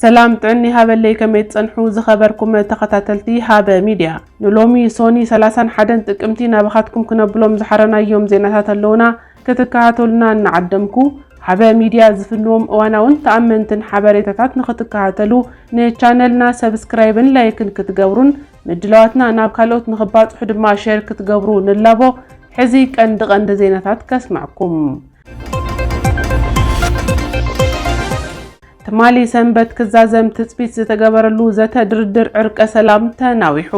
ሰላም ጥዕኒ ሃበለይ ከመይ ትጸንሑ ዝኸበርኩም ተኸታተልቲ ሃበ ሚድያ ንሎሚ ሶኒ 31 ጥቅምቲ ናባኻትኩም ክነብሎም ዝሓረናዮም ዜናታት ኣለውና ክትከታተሉና እናዓደምኩ ሃበ ሚድያ ዝፍንዎም እዋናውን ተኣመንትን ሓበሬታታት ንኽትከታተሉ ንቻነልና ሰብስክራይብን ላይክን ክትገብሩን ምድላዋትና ናብ ካልኦት ንክባፅሑ ድማ ሼር ክትገብሩ ንላቦ። ሕዚ ቀንዲ ቀንዲ ዜናታት ከስመዕኩም። ትማሊ ሰንበት ክዛዘም ትፅቢት ዝተገበረሉ ዘተ ድርድር ዕርቀ ሰላም ተናዊሑ።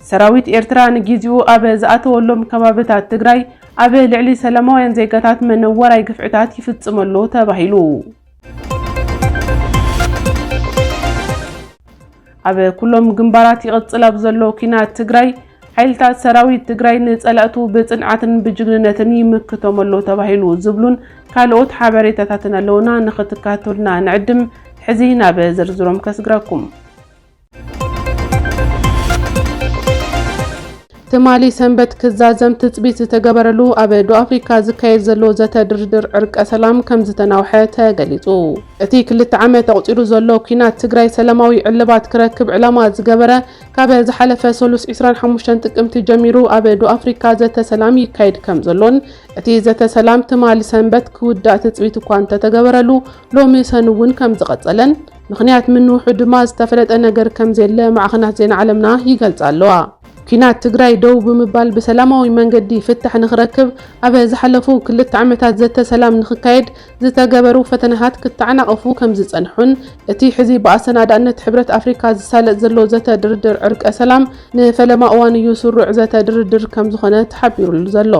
ሰራዊት ኤርትራ ንጊዚኡ ኣብ ዝኣተወሎም ከባብታት ትግራይ ኣብ ልዕሊ ሰላማውያን ዜጋታት መነወራይ ግፍዕታት ይፍፅም ኣሎ ተባሂሉ። ኣብ ኩሎም ግንባራት ይቕፅል ኣብ ዘሎ ኲናት ትግራይ ሓይልታት ሰራዊት ትግራይ ንፀላእቱ ብፅንዓትን ብጅግንነትን ይምክቶም ኣሎ ተባሂሉ ዝብሉን ካልኦት ሓበሬታታትን ኣለውና ንኽትካተሉና ንዕድም ሕዚ ናብ ዝርዝሮም ከስግራኩም። ትማሊ ሰንበት ክዛዘም ትፅቢት ዝተገበረሉ ኣብ ደቡብ ኣፍሪካ ዝካየድ ዘሎ ዘተ ድርድር ዕርቀ ሰላም ከም ዝተናውሐ ተገሊፁ። እቲ ክልተ ዓመት ኣቑፂሩ ዘሎ ኲናት ትግራይ ሰላማዊ ዕልባት ክረክብ ዕላማ ዝገበረ ካብ ዝሓለፈ ሰሉስ 25 ጥቅምቲ ጀሚሩ ኣብ ደቡብ ኣፍሪካ ዘተ ሰላም ይካየድ ከም ዘሎን እቲ ዘተ ሰላም ትማሊ ሰንበት ክውዳእ ትፅቢት እኳ እንተተገበረሉ ሎሚ ሰኑ እውን ከም ዝቐፀለን ምኽንያት ምንውሑ ድማ ዝተፈለጠ ነገር ከምዘየለ ማዕኸናት ዜና ዓለምና ይገልጻ ኣለዋ። ኲናት ትግራይ ደው ብምባል ብሰላማዊ መንገዲ ፍታሕ ንኽረክብ ኣብ ዝሓለፉ ክልተ ዓመታት ዘተ ሰላም ንኽካየድ ዝተገበሩ ፈተነታት ክተዓናቐፉ ከምዝጸንሑን እቲ ሕዚ ብኣሰናዳእነት ሕብረት ኣፍሪካ ዝሳለጥ ዘሎ ዘተ ድርድር ዕርቀ ሰላም ንፈለማ እዋን እዩ ስሩዕ ዘተ ድርድር ከምዝኾነ ተሓቢሩሉ ዘሎ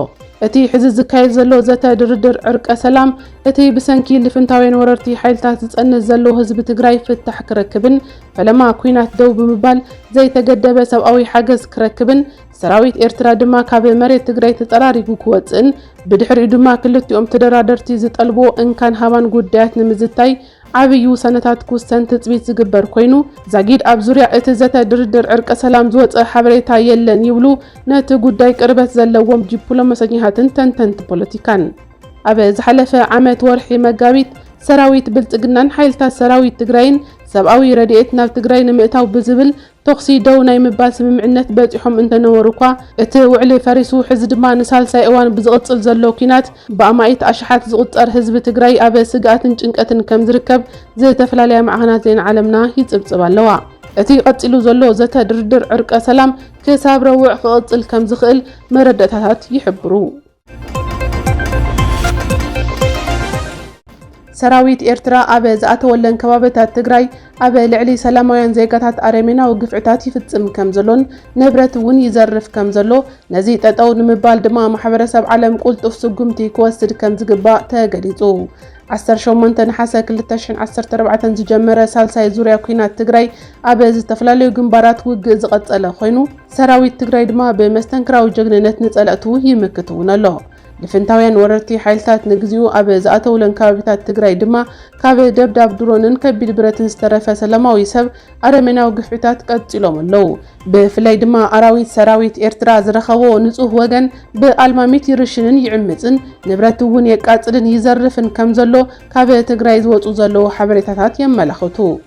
እቲ ሕዚ ዝካየድ ዘሎ ዘተ ድርድር ዕርቀ ሰላም እቲ ብሰንኪ ልፍንታውያን ወረርቲ ሓይልታት ዝፀንት ዘሎ ህዝቢ ትግራይ ፍታሕ ክረክብን ፈለማ ኲናት ደው ብምባል ዘይተገደበ ሰብኣዊ ሓገዝ ክረክብን ሰራዊት ኤርትራ ድማ ካብ መሬት ትግራይ ተፀራሪጉ ክወፅእን ብድሕሪኡ ድማ ክልቲኦም ተደራደርቲ ዝጠልብዎ እንካን ሃባን ጉዳያት ንምዝታይ ዓብዪ ውሳነታት ክውሰን ትፅቢት ዝግበር ኮይኑ ዛጊድ ኣብ ዙርያ እቲ ዘተ ድርድር ዕርቀ ሰላም ዝወፀ ሓበሬታ የለን ይብሉ ነቲ ጉዳይ ቅርበት ዘለዎም ዲፕሎማሰኛታትን ተንተንቲ ፖለቲካን። ኣብ ዝሓለፈ ዓመት ወርሒ መጋቢት ሰራዊት ብልፅግናን ሓይልታት ሰራዊት ትግራይን ሰብኣዊ ረድኤት ናብ ትግራይ ንምእታው ብዝብል ተኹሲ ደው ናይ ምባል ስምምዕነት በፂሖም እንተነበሩ እኳ እቲ ውዕሊ ፈሪሱ ሕዚ ድማ ንሳልሳይ እዋን ብዝቕፅል ዘሎ ኲናት ብኣማኢት ኣሽሓት ዝቑፀር ህዝቢ ትግራይ ኣብ ስግኣትን ጭንቀትን ከምዝርከብ ዝተፈላለያ ማዕኸናት ዜና ዓለምና ይፅብፅባ ኣለዋ። እቲ ቀፂሉ ዘሎ ዘተ ድርድር ዕርቀ ሰላም ክሳብ ረቡዕ ክቕፅል ከምዝኽእል መረዳእታታት ይሕብሩ። ሰራዊት ኤርትራ ኣብ ዝኣተወለን ከባቢታት ትግራይ ኣብ ልዕሊ ሰላማውያን ዜጋታት ኣረሜናዊ ግፍዕታት ይፍጽም ከም ዘሎን ንብረት እውን ይዘርፍ ከም ዘሎ ነዚ ጠጠው ንምባል ድማ ማሕበረሰብ ዓለም ቁልጡፍ ስጉምቲ ክወስድ ከም ዝግባእ ተገሊጹ። 18 ነሓሰ 2014 ዝጀመረ ሳልሳይ ዙርያ ኲናት ትግራይ ኣብ ዝተፈላለዩ ግንባራት ውግእ ዝቐጸለ ኮይኑ ሰራዊት ትግራይ ድማ ብመስተንክራዊ ጀግንነት ንፀለእቱ ይምክት እውን ኣሎ። ልፍንታውያን ወረርቲ ሓይልታት ንግዚኡ ኣብ ዝኣተውለን ከባቢታት ትግራይ ድማ ካብ ደብዳብ ድሮንን ከቢድ ብረትን ዝተረፈ ሰላማዊ ሰብ ኣረሜናዊ ግፍዒታት ቀፂሎም ኣለው። ብፍላይ ድማ ኣራዊት ሰራዊት ኤርትራ ዝረኸቦ ንፁህ ወገን ብኣልማሚት ይርሽንን ይዕምፅን፣ ንብረት እውን የቃፅልን ይዘርፍን ከምዘሎ ካብ ትግራይ ዝወፁ ዘለው ሓበሬታታት የመላኽቱ።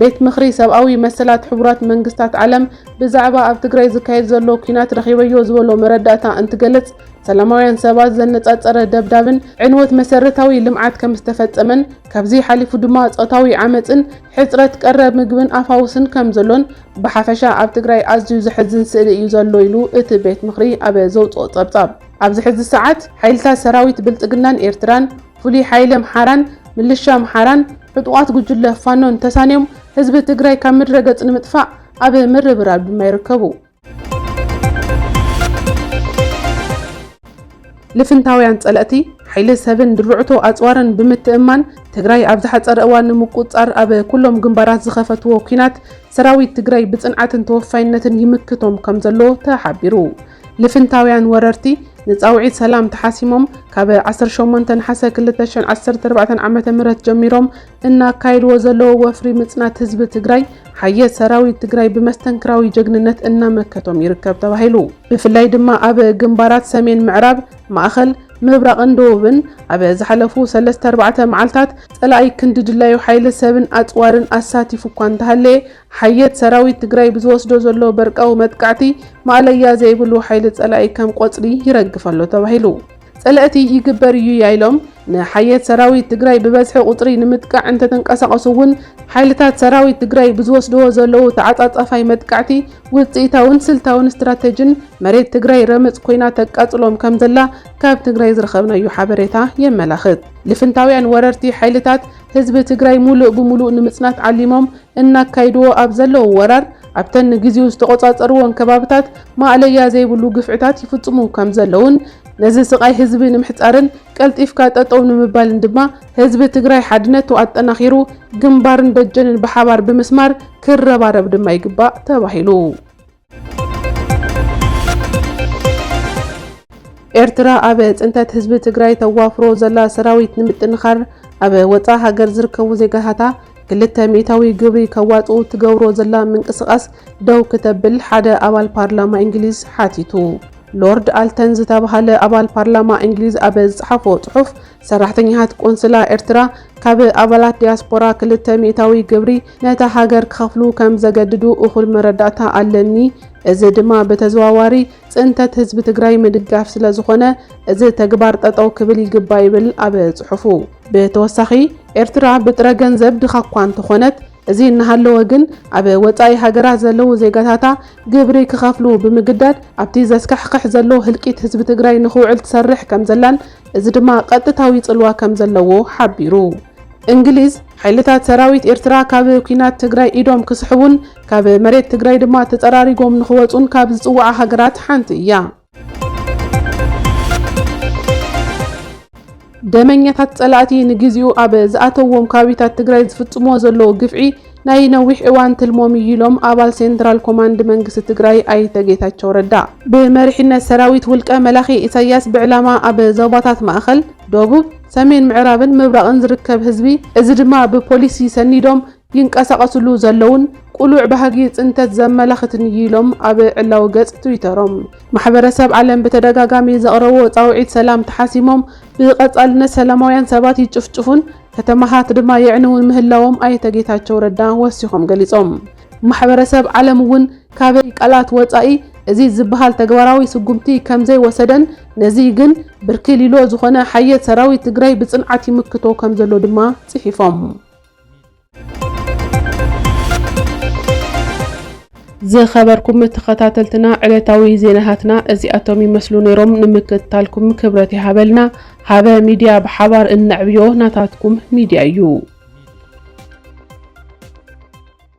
ቤት ምኽሪ ሰብኣዊ መሰላት ሕቡራት መንግስታት ዓለም ብዛዕባ ኣብ ትግራይ ዝካየድ ዘሎ ኲናት ረኺበዮ ዝበሎ መረዳእታ እንትገልፅ ሰላማውያን ሰባት ዘነፃፀረ ደብዳብን ዕንወት መሰረታዊ ልምዓት ከምዝተፈፀመን ካብዚ ሓሊፉ ድማ ፆታዊ ዓመፅን ሕፅረት ቀረብ ምግብን ኣፋውስን ከምዘሎን ብሓፈሻ ኣብ ትግራይ ኣዝዩ ዘሕዝን ስእሊ እዩ ዘሎ ኢሉ እቲ ቤት ምኽሪ ኣብ ዘውፅኦ ፀብፃብ። ኣብዚ ሕዚ ሰዓት ሓይልታት ሰራዊት ብልፅግናን ኤርትራን ፍሉይ ሓይሊ ኣምሓራን ምልሻ ኣምሓራን ዕጡቓት ጉጅለ ፋኖን ተሳንዮም ህዝቢ ትግራይ ካብ ምድረ ገፅ ንምጥፋእ ኣብ ምርብራብ ድማ ይርከቡ። ልፍንታውያን ፀለእቲ ሓይሊ ሰብን ድርዕቶ ኣፅዋርን ብምትእምማን ትግራይ ኣብ ዝሓፀረ እዋን ንምቁፅፃር ኣብ ኩሎም ግንባራት ዝኸፈትዎ ኲናት ሰራዊት ትግራይ ብፅንዓትን ተወፋይነትን ይምክቶም ከምዘሎ ተሓቢሩ። ልፍንታውያን ወረርቲ ንጻውዒት ሰላም ተሓሲሞም ካብ ዓሰርተ ሸሞንተ ነሓሰ ክልተ ሽሕን ዓሰርተ ኣርባዕተን ዓመተ ምህረት ጀሚሮም እናካየድዎ ዘለዎ ወፍሪ ምጽናት ህዝቢ ትግራይ ሓየት ሰራዊት ትግራይ ብመስተንክራዊ ጀግንነት እናመከቶም ይርከብ ተባሂሉ። ብፍላይ ድማ ኣብ ግንባራት ሰሜን ምዕራብ፣ ማእኸል፣ ምብራቕን ደቡብን ኣብ ዝሓለፉ ሰለስተ ኣርባዕተ መዓልታት ጸላኢ ክንዲ ድላዩ ሓይሊ ሰብን ኣጽዋርን ኣሳቲፉ እኳ እንተሃለየ ሓየት ሰራዊት ትግራይ ብዝወስዶ ዘሎ በርቃዊ መጥቃዕቲ ማእለያ ዘይብሉ ሓይሊ ፀላኢ ከም ቆፅሊ ይረግፍ ኣሎ ተባሂሉ። ፀለእቲ ይግበር እዩያ ኢሎም ንሓየት ሰራዊት ትግራይ ብበዝሒ ቁፅሪ ንምጥቃዕ እንተተንቀሳቐሱ እውን ሓይልታት ሰራዊት ትግራይ ብዝወስድዎ ዘለዉ ተዓፃፃፋይ መጥቃዕቲ ውፅኢታውን ስልታውን ስትራቴጅን መሬት ትግራይ ረመፅ ኮይና ተቃፅሎም ከምዘላ ካብ ትግራይ ዝረኸብናዮ ሓበሬታ የመላኽት። ልፍንታውያን ወረርቲ ሓይልታት ህዝቢ ትግራይ ሙሉእ ብሙሉእ ንምፅናት ዓሊሞም እናካይድዎ ኣብ ዘለዉ ወራር ኣብተን ንግዚኡ ዝተቖፃፀርዎን ከባብታት ማእለያ ዘይብሉ ግፍዕታት ይፍፅሙ ከምዘለዉን ነዚ ስቓይ ህዝቢ ንምሕፃርን ቀልጢፍካ ጠጠው ንምባልን ድማ ህዝቢ ትግራይ ሓድነቱ ኣጠናኺሩ ግንባርን ደጀንን ብሓባር ብምስማር ክረባረብ ድማ ይግባእ ተባሂሉ። ኤርትራ ኣብ ፅንተት ህዝቢ ትግራይ ተዋፍሮ ዘላ ሰራዊት ንምጥንኻር ኣብ ወፃእ ሃገር ዝርከቡ ዜጋታታ ክልተ ሚእታዊ ግብሪ ከዋፅኡ ትገብሮ ዘላ ምንቅስቓስ ደው ክተብል ሓደ ኣባል ፓርላማ እንግሊዝ ሓቲቱ። ሎርድ ኣልተን ዝተብሃለ ኣባል ፓርላማ እንግሊዝ ኣብ ዝፀሓፎ ፅሑፍ ሰራሕተኛታት ቆንስላ ኤርትራ ካብ ኣባላት ዲያስፖራ ክልተ ሚእታዊ ግብሪ ነታ ሃገር ክኸፍሉ ከም ዘገድዱ እኹል መረዳእታ ኣለኒ። እዚ ድማ ብተዘዋዋሪ ፅንተት ህዝቢ ትግራይ ምድጋፍ ስለ ዝኾነ እዚ ተግባር ጠጠው ክብል ይግባ ይብል ኣብ ፅሑፉ። ብተወሳኺ ኤርትራ ብጥረ ገንዘብ ድኻ እኳ እንተኾነት እዚ እናሃለወ ግን ኣብ ወፃኢ ሃገራት ዘለዉ ዜጋታታ ግብሪ ክኸፍሉ ብምግዳድ ኣብቲ ዘስካሕኽሕ ዘሎ ህልቂት ህዝቢ ትግራይ ንክውዕል ትሰርሕ ከም ዘላን እዚ ድማ ቀጥታዊ ጽልዋ ከም ዘለዎ ሓቢሩ። እንግሊዝ፣ ሓይልታት ሰራዊት ኤርትራ ካብ ኲናት ትግራይ ኢዶም ክስሕቡን ካብ መሬት ትግራይ ድማ ተጸራሪጎም ንኽወጹን ካብ ዝጽውዓ ሃገራት ሓንቲ እያ። ደመኛታት ጸላእቲ ንግዚኡ ኣብ ዝኣተውዎም ከባቢታት ትግራይ ዝፍጽምዎ ዘለዉ ግፍዒ ናይ ነዊሕ እዋን ትልሞም እዩ ኢሎም ኣባል ሴንትራል ኮማንድ መንግስቲ ትግራይ ኣይተ ጌታቸው ረዳ። ብመሪሕነት ሰራዊት ውልቀ መላኺ ኢሳያስ ብዕላማ ኣብ ዞባታት ማእኸል፣ ደቡብ፣ ሰሜን ምዕራብን ምብራቕን ዝርከብ ህዝቢ እዚ ድማ ብፖሊሲ ሰኒዶም ይንቀሳቐስሉ ዘለዉን ቅሉዕ ባህጊ ፅንተት ዘመላኽትን እዩ ኢሎም ኣብ ዕላዊ ገፅ ትዊተሮም። ማሕበረሰብ ዓለም ብተደጋጋሚ ዘቕረብዎ ጻውዒት ሰላም ተሓሲሞም ብቐጻልነት ሰላማውያን ሰባት ይጭፍጭፉን ከተማታት ድማ የዕንዉን ምህላዎም ኣይተ ጌታቸው ረዳ ወሲኾም ገሊጾም። ማሕበረሰብ ዓለም እውን ካብ ቃላት ወጻኢ እዚ ዝበሃል ተግባራዊ ስጉምቲ ከምዘይወሰደን ነዚ ግን ብርኪ ሊሎ ዝኾነ ሓየት ሰራዊት ትግራይ ብፅንዓት ይምክቶ ከምዘሎ ድማ ፅሒፎም። ዝኸበርኩም ተኸታተልትና ዕለታዊ ዜናታትና እዚኣቶም ይመስሉ ነይሮም። ንምክትታልኩም ክብረት ይሃበልና። ሃበ ሚድያ ብሓባር እነዕብዮ ናታትኩም ሚድያ እዩ።